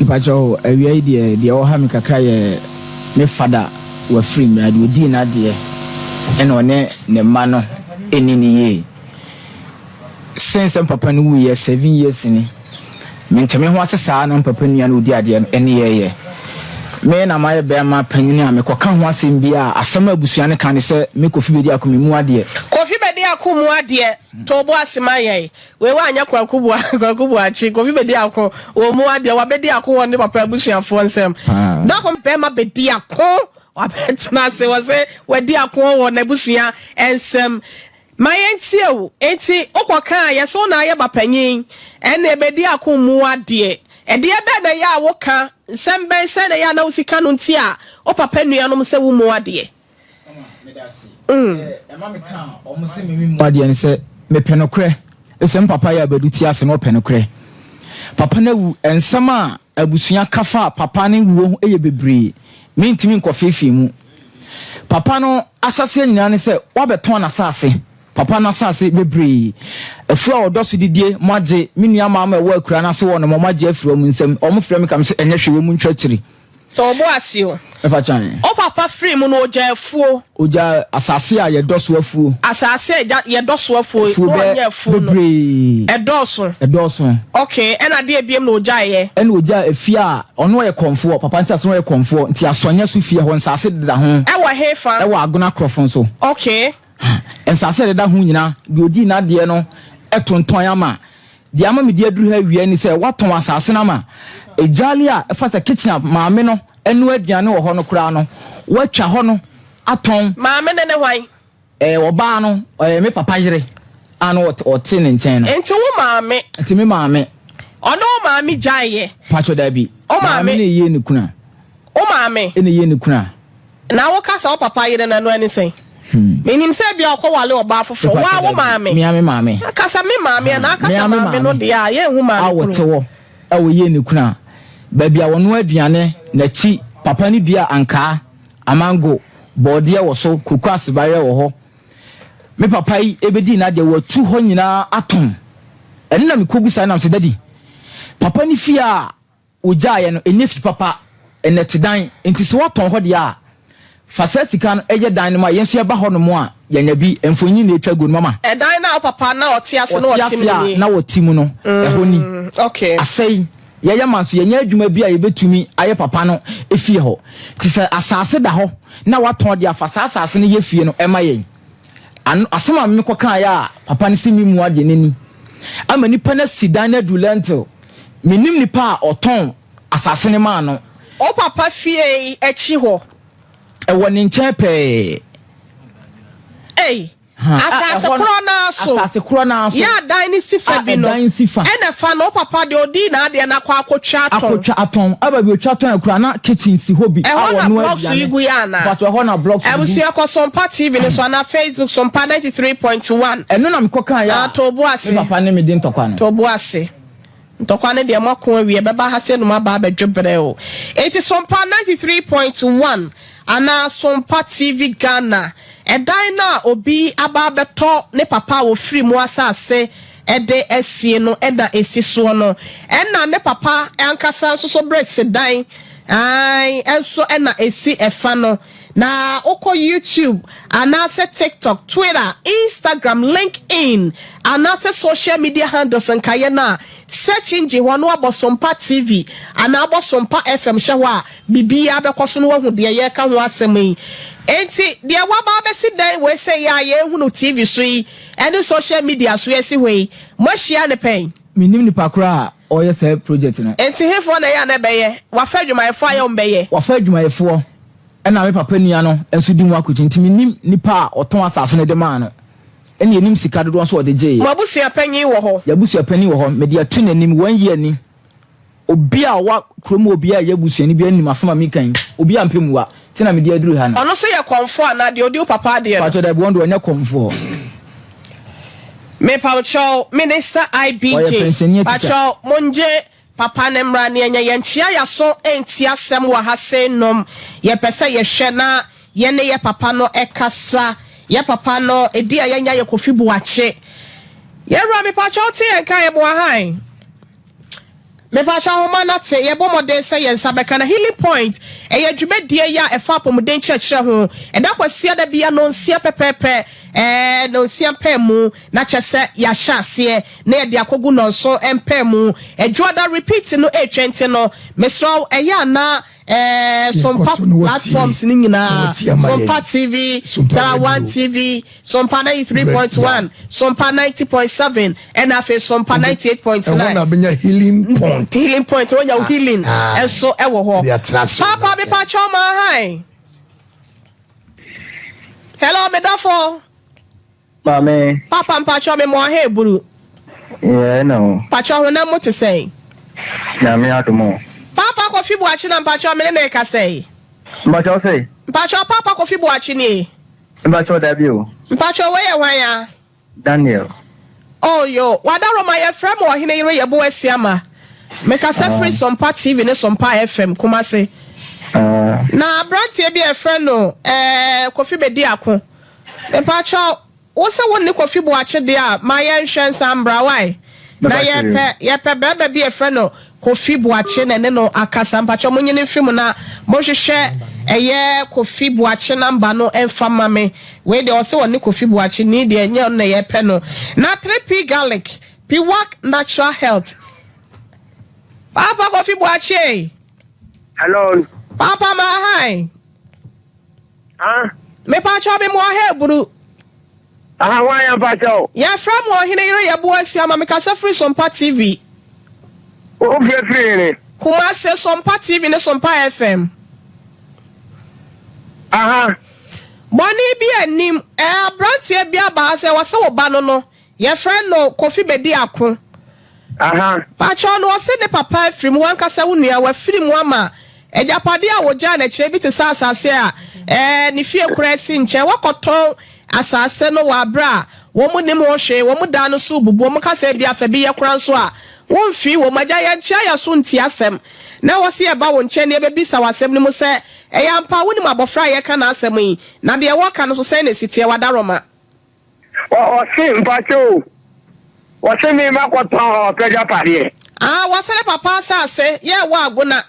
Mpakyɛw, awia yi deɛ, deɛ ɛwɔ ha me kakra yɛ me fada Wafiri mmira deɛ ɔdii n'adeɛ ɛna ɔne ne mma no ɛnni no yie. Since sɛ mpapa no wuiɛ seven years ni, mente me ho ase saa na mpapa nua no ɔdi adeɛ no ɛne yɛɛyɛ. Me na mayɛ bɛɛma panyini a mekɔ ka ho asɛm biaa a, asɛm a abusua no ka ne sɛ me Kofi Bediako me mu adeɛ. Kofi Bediako mu adeɛ, to wo bo ase ma yɛn. Wei wanyɛ Kwaku Boa Kwaku Boakye, Kofi bɛdi ako wɔ ɔmu adeɛ, wabɛdi ako wɔ ne papa abusuafoɔ nsam. Na wɔn bɛma bɛdi ako, wabɛtena ase wɔ se wadi ako wɔ n'abusua nsam. Ma yɛntie wo, enti wokɔ ka a yɛse wo na ayɛ bapanyin, ɛnneɛ bɛdi ako mmu wo adeɛ. Ɛdeɛ bɛn na ɛyɛ a woka, nsɛm bɛn, sɛn na ɛyɛ a na wo sika no nti a wo papa nuanom sɛ wommu wo adeɛ? Adeɛ ne sɛ mepɛ nokorɛ ɛsɛ m papa yɛ abɛdu ti ase na ɔpɛ nokorɛ papa no awu nsɛm a abusua ka fa papa ne wuo ho yɛ bebree mentumi nkɔfeefee mu papa no ahyɛseɛ nyinaa ne sɛ wabɛtɔn n'asase papa no asase bebree afuo a ɔdɔ so didie mo agye me nua maa ma ɛwɔ akura no ase wɔ nom ɔmo agye afiri ɔmo nsam ɔmo frɛ me ka me sɛ ɛnyɛ hwee wɔn mu ntwa akyiri Tɔ wo bo ase o. Ɛfa twan. O papa firii mu no ɔgyaa afuo. Ɔgyaa asase a yɛdɔ so afuo. Asase a ɛgya yɛdɔ so afuo. Afuo bɛ ɔnyɛ afuo no. bebree. Ɛdɔɔso. Ɛdɔɔso. Okay ɛna adeɛ biem na ɔgyaeɛ. Ɛna ɔgyaa efie a ɔno ɔyɛ kɔmfoɔ papa nti asɛ ɔyɛ kɔmfoɔ nti asɔnyɛ so fie hɔ nsaase deda ho. Ɛwɔ hefa. Ɛwɔ Agona Krɔfo nso. Okay Ha, nsase a ɛdeda ho nyinaa, deɛ ɔdii n'adeɛ no tontɔn ama. Deɛ ama mede aduru ha awie ne sɛ, wɔatɔn asase no ama. Gyaale a ɛfa sɛ kitchen a maame no noa aduane wɔ hɔ no koraa no, wɔatwa hɔ no atɔn. Maame no ne hwan? Ɛɛ, ɔbaa no, ɔyɛ me papa yere a na ɔte ne nkyɛn no. Enti wo maame? Enti me maame. Ɔne wo maame gyaeeɛ? Paatwɔ, dabi. Wo maame? Maame na ɛyɛ ne kunu a. Wo maame? Ɛna ɛyɛ ne kunu a. Na wo ka sɛ wo papa yere no ɛno ɛne sɛn? Me nim sɛ ebia ɔkɔ wale ɔbaa foforɔ. Wo a wo maame. Mea me maame. Ka sɛ me maame a na aka sɛ maame no deɛ a yɛ nhu maame koro. A wɔte hɔ a wɔyie ne kunu a baabi a wɔnoa aduane n'akyi papa no dua ankaa, amango, bɔɔdeɛ wɔ so, koko asebareɛ wɔ hɔ. Me papa yi ɛbɛdii n'adeɛ watu hɔ nyinaa atɔn. Ɛno na mekɔbu saa nam sɛ dadi papa no fie a Wogyaeɛ no, ɛnyɛ fi papa, nnɛtedan, enti sɛ woatɔn hɔ deɛ a, fa saa sika no yɛ dan no ma yɛn nso yɛba hɔnom a, yɛanya bi. Mfonini na ɛtwa aguo no, mama. Ɛdan no a wo papa na ɔte ase na ɔte mu no nie? Ɔte ase a na ɔte mu no, ɛhɔ ni. Asɛe. Yɛyɛ ma nso, yɛnyɛ adwuma bi a yɛbɛtumi ayɛ papa no fie hɔ. Enti sɛ asase da hɔ na woatɔn deɛ a, fa saa asase no yɛ fie no ma yɛn. Ano asɛm a mekɔ kaa yɛ a papa no se me mua deɛ nani ama nipa no asi dan no adu lentil me nim nipa a ɔtɔn asase no maa no. Wo papa fie yi akyi hɔ. Ɛwɔ ne nkyɛn pɛɛ. Ei asase korɔ no ara so. Asase korɔ no ara so. Yɛ adan no si fa bi no. A ɛdan si fa. Ɛna fa no wo papa deɛ ɔdii n'adeɛ no akɔ akɔtwa atɔn. Akɔtwa atɔn aba bi ɔtwa tɔn akura na kitchen si hɔ bi a ɔno adi. Ti gu yɛ ana? Mpatsɔ ɛhɔ na blocks no bi. Abusua kɔ so mpa TV no so anaa Facebook so mpa ninety three point one. Ɛno na mekɔ kaa yɛ a Ah too bo ase. me papa ne me di ntɔkwa no. Too bo ase. Ntɔkwa no deɛ moako awie ɛbɛba ha sei na ɔmo aba abɛdwe brɛ o. Enti so mpa ninety three point one anaa so mpa TV Ghana. Ɛdan no a obi aba abɛtɔ ne papa a ɔfiri mu asase. de asie no na esi soɔ no, ɛna ne papa ankasa nso so bricks dan ae nso na esi ɛfa no, na wokɔ YouTube anaasɛ TikTok, Twitter, Instagram, LinkedIn anaasɛ social media handles nkaeɛ no a, search engine hɔ no Abɔsompa TV anaa Abɔsompa FM hyɛ hɔ a, biribiara bɛkɔ so na woahu deɛ yɛreka ho asɛm yi. Enti deɛ woaba abɛsi dan wei sɛ yɛ a yɛrehunu TV so yi, ɛne social media so asi hɔ yi, moahyia no pɛn? Mennim nipa koro a ɔreyɛ saa project no. Enti hefoɔ na ɛyɛ a na ɛbɛyɛ? Wɔafa adwumayɛfoɔ ayɛ wɔn bɛyɛ. Wɔafa adwumayɛfoɔ ɛna me papa nua no nso di ho akɔgye nti mennim nipa a ɔtɔn asase no de maa no ɛna yɛnnim sika dodoɔ nso a ɔde gyeeɛ. Mo abusua panin wɔ hɔ? Yɛn abusua panin wɔ hɔ. Mede ato n'anim one year ni. Obi a ɔwɔ kuro mu obiara ɛyɛ busuani biara nim asɛm a meka yi. Obi ampɛ mua nti na mede aduru ha no. Ɔno nso yɛ kɔmfoɔ anaa deɛ ɔdi wo papa adeɛ no? Pakyɛw dabi wɔn deɛ ɔnyɛ kɔmfoɔ. Mepawkyɛw minister IB Ɔyɛ din pensionee teacher. pakyɛw mongye papa no mmra ne ɛnyɛ yɛnkyea yaso ɛnti asɛm wɔ ha sei nom yɛpɛ sɛ yɛhwɛ na Yɛne yɛ papa no kasa. Yɛ papa no ɛdin a yɛanya yɛ Kofi Boakye. Yɛn wura mepakyɛw te yɛn nka yɛboa hann. Mepakyɛw ahoma no ate. Yɛbɔ mmɔden sɛ yɛn nsa bɛka na Healing Point ɛyɛ dwumadie yi a ɛfa apɔmuden nkyerɛkyerɛ ho. Ɛda Kwasiada bia nɔnsia pɛpɛɛpɛ ɛɛ nɔnsia mpamu na kyɛ sɛ yɛahyɛ aseɛ na yɛde akɔgu nɔnson mpamu. Ɛdwoada repeat no ɛretwa nti no mesrɛ wo ɛyɛ a na Ɛɛ Sompa platforms no nyinaa, Sompa TV, Dara One TV, Sompa 93.1, Sompa 90.7, ɛna afei Sompa 98.9. Ɛwɔ na benya healing point. Healing point, wɔnya ah, healing ah. ɛso ɛwɔ hɔ. Papa bi pa kyɛw ma han. Hello, medafo. Maame. Papa mpakyɛw me moa hɛ buru. Yɛɛ na o. Mpakyɛw honam mu te sɛn. Nyame adom o. Papa Kofi Boakye na mpakyɛw me ne no rekasa yi. Mpakyɛw se. Mpakyɛw Papa Kofi Boakye nie. Mpakyɛw dabi o. Mpakyɛw wei yɛ hwan a. Daniel. Oh yoo wadaroma yɛfrɛ me ɔhene yere yɛ Boasiama me kasa firi sompa TV ne sompa FM Kumase na abranteɛ bi a yɛfrɛ no eh Kofi bɛdi ako Mepakyɛw, wo se wo nne Kofi Boakye deɛ a, ma yɛ nhwɛ nsa mbra wai? Na yɛ pɛ, yɛ pɛ bɛɛma bi yɛfrɛ no Kofi Boakye na ɛne no akasa. Mpakyɛw mo nyini mfiri mu na mo nhwehwɛ ɛyɛ Kofi Boakye number no mfa ma me. Wei deɛ ɔse ɔne Kofi Boakye ni deɛ nyɛ ɔno na yɛ pɛ no. Na 3P Garlic, Piwak Natural Health. Paapa Kofi Boakye ei. Hello. Paapa ma ahan. Ah. Mepakyɛw me moa ha aburu. Aha hwan ya mpakyɛw. Yɛ frɛ mo ɔhene yere yɛ bo asia ma me kasa firi sompa TV. Wo frɛ firi hene. Kumase sompa TV ne sompa FM. Aha. Bɔne bi nnim. Ɛɛ abranteɛ bi aba ha sɛ wɔse wo ba no no. Yɛfrɛ no Kofi Bediako. Aha. Pakyɛw no ɔse ne papa afiri mu, wankasa wo nua, wafiri mu ama agyapadeɛ a wɔgyaa no akyire bi te sɛ asase a ɛɛ ne fie koraa si nkyɛn. Wakɔtɔn asase no wɔ aberɛ a wɔn nim ho hwee, wɔn dan no so rebubu, wɔn ka sɛ ebia fa bi yɛ kora nso a womfii wɔn. Agya yɛnkyea yɛ so ntie asɛm na wɔse yɛba wo nkyɛn na yɛbɛbisa wo asɛm no mu sɛ ɛyɛ ampa a wonim abɔfra a yɛreka n'asɛm yi na deɛ wɔreka no nso sɛn na ɛsi teɛ? Wadaroma. Ɔse mpakyɛ o, ɔse me ma kɔ tɔn ɔpɛ dwa padeɛ. Ah wɔse ne papa asase yɛ ɛwɔ agona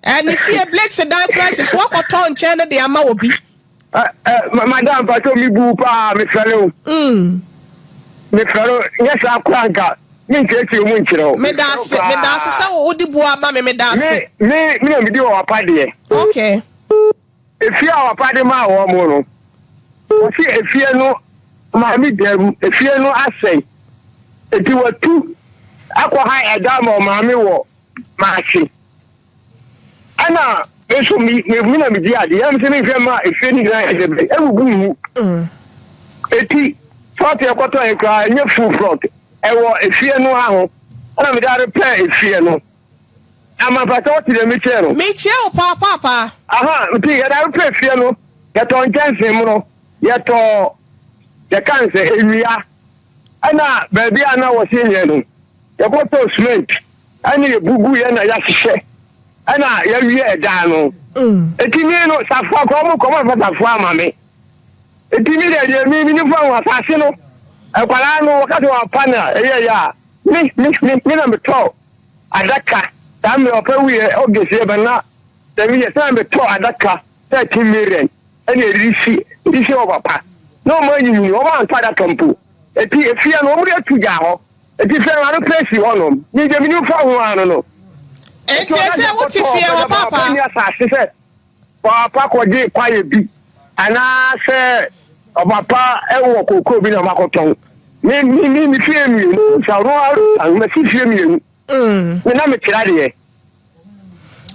eh, ne fie blakes dan crisis wɔkɔ tɔn nkyɛn no de ama obi. Eh eh ma madam mpakyɛ me bu paa me fɛre o. Mm. Me fɛre o, nyɛ saa kora nka me nkyerɛkyerɛ mu nkyerɛ o. Meda ase, meda ase sɛ wo wode bu ama me, meda ase. Me, me, me na medi wɔ wapa deɛ. Okay. Efie a ɔpapa de maa wɔn no, wɔse efie no maame gyaa mu, efie no asɛe. Enti watu akɔ ha ɛda ma ɔmaame wɔ Maakye. Ɛna me nso me me na medi ade, yɛn nso menhwɛ mma efie no nyinaa yɛ dɛbɛ, abubu ngu. Eti plɔt ɛkɔtɔ yɛ koraa ɛnyɛ full plɔt, ɛwɔ efie no aho. Ɛna mede are pɛɛ efie no. Ama mpata ɔte dɛ me kyɛɛ no. Me tsie wo paapaapaa. Aha nti yɛ da repɛ fie no yɛ tɔ nkyɛnsee mono yɛ tɔ yɛ ka nsɛ ewia ɛna baabi a na wɔ se nyɛ no yɛ kɔ tɔ cement ɛna yɛ bugu yɛ na yɛ hyehyɛ ɛna yɛ wie ɛdaa no eti mii no safoa kɔ ɔmo kɔ ɔmo afa safoa ama me eti mi deɛ deɛ mii mi ni fa ho asase no ɛkwadaa no wɔka sɛ wɔn apa na ɛyɛ yɛ a mi mi mi mi na mi tɔ. adaka. Saa mmerɛ ɔpɛ wieɛ August yɛ bɛ na sɛ meyɛ sɛ na metɔ adaka thirteen million ɛna ɛresi ɛresi hɔ papa na ɔmo anyinyini ɔmo antɔ adaka mpo ɛti ɛfiɛ no ɔmo de atu gyaa hɔ ɛti fiɛ no ano pɛ si hɔ nom me deɛ menim fa ho ano no ɛti ɔna deɛ kɔtɔ ɔpɛ dɛ baako ɛni asase sɛ. Ɔba pa kɔgye kwaeɛ bi anaasɛ ɔba pa wɔ kookoo bi na makɔtɔn. Me me me me fie mmienu sa no arosan masi fie mmienu. Mm. Me na mekyerɛ adeɛ.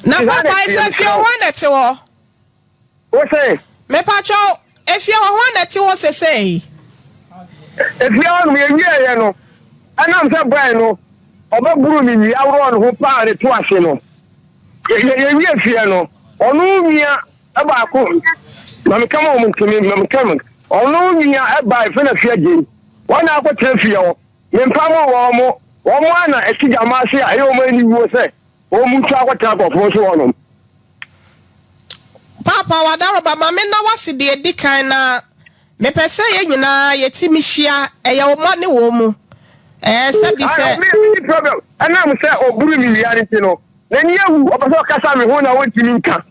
Na papa sɛ fie hɔ na ɛte hɔ. Wo se. Mepatwɔ efie hɔ hɔ na ɛte hɔ sesei. Efie hɔ nom yɛwieɛ no ɛnam sɛ bɔɛ no ɔbɛboro ne nwi aworɔ ne ho paa ne to ase no. Yɛ yɛ wie fie no ɔno nua ɛbaako na meka ma wɔn ntumi na meka mu ɔno nua ɛba efe na fi agye yi wɔn na akɔ kyerɛ fie hɔ ne mpa mo wɔn mo wɔn mo a na ɛsi gya mo ase a ɛyɛ wɔn ani wuo sɛ wɔn mu nso akɔ kyerɛ akɔfo nso wɔn nom. Paapa wadaroba ma me na wase deɛ ɛdi kan na. Mepɛ sɛ yɛn nyinaa yɛti mi hyia ɛyɛ wo mɔ ne wɔn mu ɛɛ sɛ bi sɛ. Ae ɔbea bi ne problem ɛnam sɛ ɔburu ne wia nti no n'ani awu ɔpɛ sɛ ɔkasa me ho na ɔntumi nka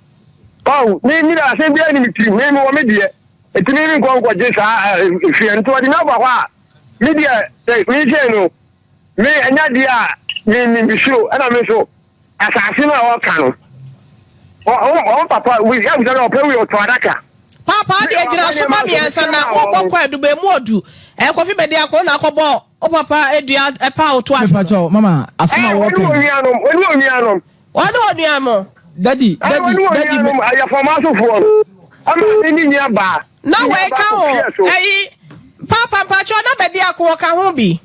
ɔho me me deɛ asɛm biara ni me tirim me me wɔ me deɛ ɛti me me nkɔ nkɔgye saa ɛɛ ɛfia nti ɔde me aba hɔ a me deɛ sɛ me nhyɛ no Me ɛnyɛ deɛ a me nim nsuo ɛna me nso asase no a ɔka no ɔn papa wi ɛmu sɛ ɔpɛ wi ɔtɔ adaka. Papa deɛ gyina so ma miɛnsa na wobɔ kɔ ɛdu bɛ mu ɔdu ɛkɔfi bɛ deɛ akɔ na akɔ bɔ o papa ɛdua ɛpa ɔto ase no. Me pa kyɛw mama asɛm a wɔka yi. Ɛɛ wɔne wɔn nuanom wɔne wɔn nuanom. Wɔne onuanom no. Daddy, daddy, daddy me. Wɔne onuanom no, ayefɔm asofoɔ no, maame ne nua baa. Na wei ka ho, ɛyi, Paapa, mpakyɛw, na bɛ biako wɔka ho bi.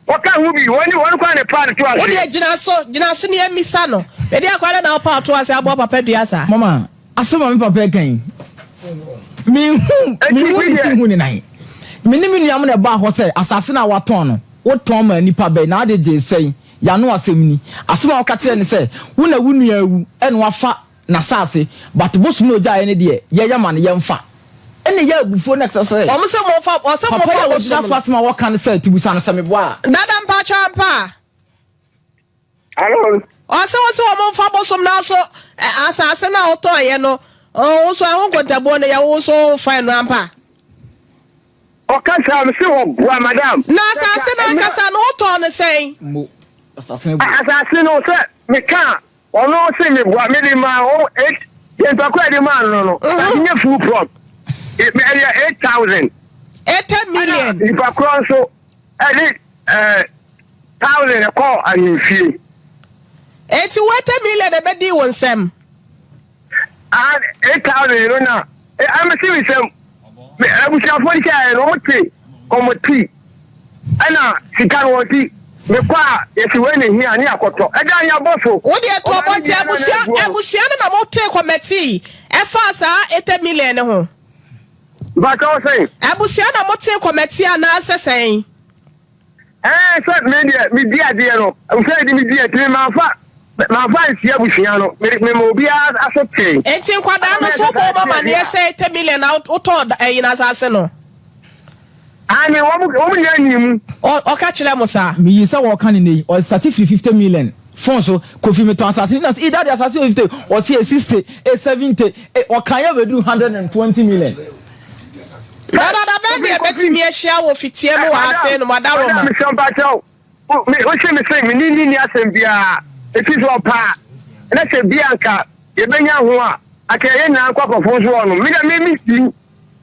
Wɔka ho bi, wɔne wɔn kwan ne paano to ase. Wo deɛ gyina so, gyina so ne yɛ misa no. Bɛ deɛ kwan na wo paano to ase aboa papa dua saa. Mama, asɛm a me papa ɛka yi, me nhu, me nhu ne ti nhu ne nan. Me ne me nuanom na ɛbaa hɔ sɛ asase no a wɔatɔn no, wotɔn maa nipa bɛn na ade gyee sɛn? Y'ano asɛm ni. Asɛm a wɔka kyerɛ ne sɛ, wo na wo nua awu na wafa n'asase, but bosom a ogyaeɛ no deɛ, yɛyɛ ma no, yɛmfa. Ɛnna ɛyɛ abufuo na ɛsɛ sɛ. Wɔn sɛ mofa, wɔsɛ mofa bosom no. Papa yi a wagyina so asɛm a wɔka no sɛ, Tibusa no sɛ meboa a. Dada mpakyɛw ampa a? Hello. Ɔsɛ wo sɛ wɔn mfa bosom no aso asase no a wotɔeɛ no, wo nso ɛho nkontabuo no yɛ wo nso wofa ɛno ampa a? Ɔkasaa no se ɔboa madam. Na asase no ankasa no wotɔɔ no sɛn? Mo asase boɔ. Asase no sɛ mekaa ɔno se meboa mede maa wɔn eight deɛ ntɔkwa yɛde maa no no na menyɛ full plot ɛyɛ eight thousand. Eighty million. Ɛna nipa korɔ nso ɛde ɛɛ thousand ɛkɔɔ ahemfie. Eti wo eighty million ɛbɛdii wo nsam. eight thousand no na ɛmɛ si mi sɛm abusuafoɔ ni sɛ ɛyɛ no wɔn te wɔn ti ɛna sika no wɔn ti mekɔ a yɛsi wei ne hia ne akɔtɔ ɛda yɛ abɔ so. wo deɛ to ɔbɔ nti abusua abusua no na mo te kɔmɛti ɛfa saa eight million no ho. bàtà ɔsɛn. abusua na mo te kɔmɛti anaasɛ sɛn. Ɛɛ, sɛ me deɛ medi adeɛ no, sɛ ɛde medi akyi no, mamfa mamfa ansi abusua no, mede mema obiara aso tee. Enti nkwadaa no nso wobɔ wɔn amaneɛ sɛ te million na wotɔɔ da- ɛyi no asase no? Aane, wɔn wɔn nyinaa nyii mu. Ɔ- Ɔka kyerɛ mo saa. Meyii sɛ wɔɔka no nnɛ yi, ɔsate firi 50 million fon so, Kofi metɔn asase no, na sɛ, ee daddy asase wɔ 50, ɔse ee 60, ee 70, ee ɔkaeɛ bɛduru 120 million. Na dada bɛn na yɛbɛtumi ahyia wɔ fitia mu wɔ ha sei no, Mada Roma? Madam, mesrɛ wo mpakyɛ wo, wohye me se mene ne nni asɛm biara, ɛfiri sɛ ɔpɛ a, na sɛ bi a nka yɛbɛnya ho a, anka yɛn nyinaa nkɔ akɔforo nso hɔ nom. Me deɛ me menti,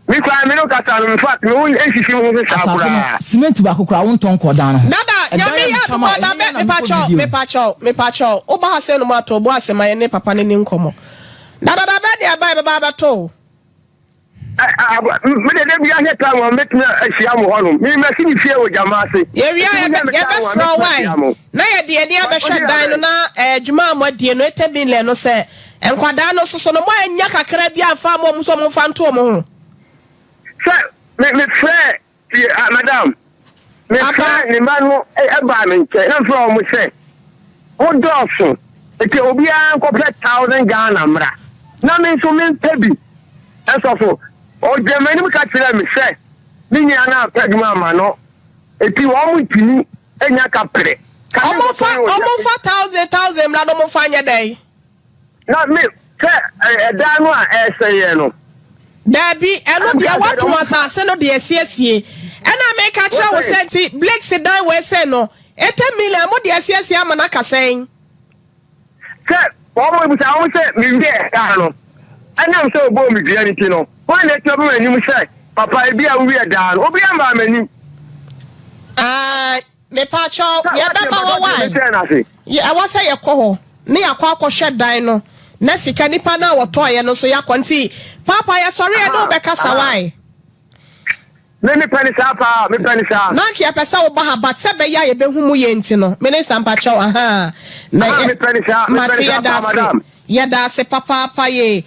me koraa me ne wo kasa no, infact me ho nsisi me ho so saa koraa. Asafo no, cement baako koraa wontɔ nkɔ dan no ho. Dada, Nyame yɛ adom a, da bɛn, mepakyɛ wo, mepakyɛ wo, mepakyɛ wo, woba ha sei nom a, tɔ wo bo ase ma yɛne papa no nni nkɔmmɔ. Dada, da bɛn na yɛba a yɛbɛba abɛto wo? Me de dabi ahwɛ tan wɔn mɛtumi ahyia mo hɔnom. Me mɛsi me fie wɔ gyama ase. Yɛwie a yɛbɛfrɛ wae na yɛde yɛn ani abɛhwɛ dan no na adwuma a moadie no ɛtɛ billion no sɛ nkwadaa no soso no moannya kakra bi amfa ama wɔn sɛ wɔmfa nto wɔn ho. Sɛ mefrɛɛ. Tie, ah, madam. Mefrɛ ne mma no baa me nkyɛn na mefrɛ wɔn sɛ, mo dɔɔso, enti obiara nkɔpɛ thousand Ghana mmra na me nso mempɛ bi nsɔfo. Ɔgyina m'anim ka kyerɛɛ me sɛ ne nua no ampɛ adwuma amma no, enti wɔn ntumi nya kaprɛ. Ka ne nkɔtɔ ne wɔn nsa. Wɔmfa thousand thousand mmra na wɔmfa nyɛ dɛn? Na me, sɛ ɛdan no a ɛresɛeɛ no. Daabi, ɛno deɛ wɔatɔn asase no de asiesie. Ɛna meka kyerɛ wo sɛ nti Blakes dan wei sei no, 80 million mode asiesie ama no aka sɛn? Sɛ wɔbisa wɔn sɛ mewiee dan no, ɛnam sɛ wɔbɔɔ me dua no nti no, hwan na ɛtumi aba m'anim sɛ papa ebi a wowiee dan no? Obiara mmaa m'anim. Ah. Mepakyɛw, yɛbɛba hɔ wae? Ɛwɔ sɛ yɛkɔ hɔ ne yɛakɔ akɔhwɛ dan no na sika nipa no a wɔtɔeɛ no nso yɛakɔ nti Paapa yɛsɔre yɛne wo bɛkasa wae? Me mepɛ ne saa paa, mepɛ ne saa. Na anka yɛpɛ sɛ woba ha but sɛ ɛbɛyɛ a yɛbɛhu mu yie nti no Minister mpakyɛw ahaa. Mepɛ ne saa, mepɛ ne saa paa madam. Yɛda ase papaapa yee.